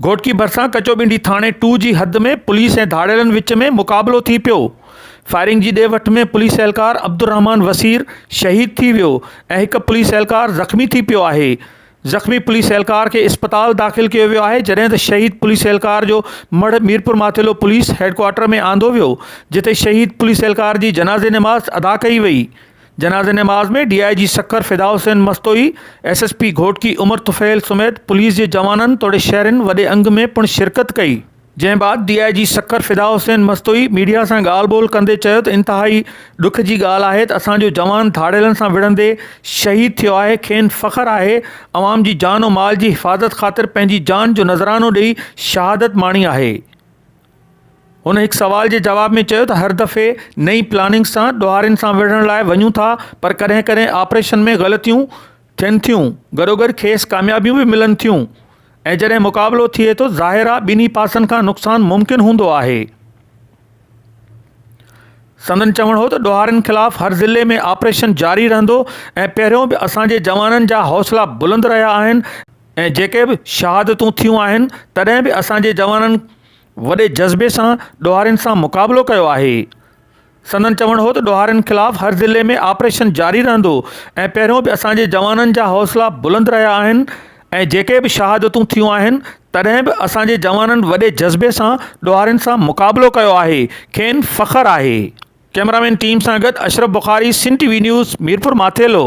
گهوٽڪي ڀرسان ڪچو ٻنڊي ٿاڻي ٽو جي حد ۾ پوليس ۽ ڌاڙيلن وچ ۾ مقابلو ٿي پيو، فائرنگ جي ڏي وٺ ۾ پوليس اهلڪار عبدالرحمان وسير شهيد ٿي ويو ۽ هڪ پوليس اهلڪار زخمي ٿي پيو آهي، زخمي پوليس اهلڪار کي اسپتال داخل ڪيو ويو آهي جڏهن ته شهيد پوليس اهلڪار جو مڙهه ميرپورماٿيلو پوليس هيڊڪوارٽر ۾ آندو ويو جتي شهيد پوليس اهلڪار جي جنازي نماز ادا ڪئي وئي. جنازي نماز ۾ D I G Sukkur Fida Hussain Mastoi, S S P Ghotki Umar Tufail سميت پوليس جي جوانن توڙي شهرين وڏي انگ ۾ پڻ شرڪت ڪئي. جنهن بعد D I G Sukkur Fida Hussain Mastoi media سان ڳالهه ٻولهه ڪندي چيو ته انتهائي ڏک جي ڳالهه آهي ته اسان جو جوان ڌاڙيلن سان وڙهندي شهيد ٿيو آهي کين فخر آهي عوام جي جان و مال جي حفاظت خاطر پنهنجي جان جو نذرانو ڏئي شهادت ماڻي آهي هن هڪ سوال جي جواب ۾ چيو ته هر دفعي نئين پلاننگ سان ڏوهارين سان وڙهڻ لاء وڃون ٿا پر ڪڏهن ڪڏهن آپريشن ۾ غلطيون ٿين ٿيون گڏوگڏ کيس ڪاميابيون به ملن ٿيون ۽ جڏهن مقابلو ٿئي ٿو ظاهر آهي ٻنهي پاسن کان نقصان ممڪن هوندو آهي سندن چوڻ هو ته ڏوهارين خلاف هر ضلعي ۾ آپريشن جاري رهندو ۽ پهريون به اسان جي جوانن جا حوصلا بلند رهيا آهن ۽ جيڪي به شهادتون ٿيون آهن تڏهن به اسان جي جوانن وڏي جذبي سان ڏوهارين سان مقابلو ڪيو آهي سندن چوڻ هو ته ڏوهارين خلاف هر ضلعي ۾ آپريشن جاري رهندو ۽ پهريون به اسان جي جوانن جا حوصلا بلند رهيا آهن ۽ جيڪي به شهادتون ٿيون آهن تڏهن به اسان جي جوانن وڏي جذبي سان ڏوهارين سان مقابلو ڪيو آهي کين فخر آهي. ڪئميرا مين ٽيم سان گڏ Ashraf Bukhari Sindh T V news Mirpur Mathelo.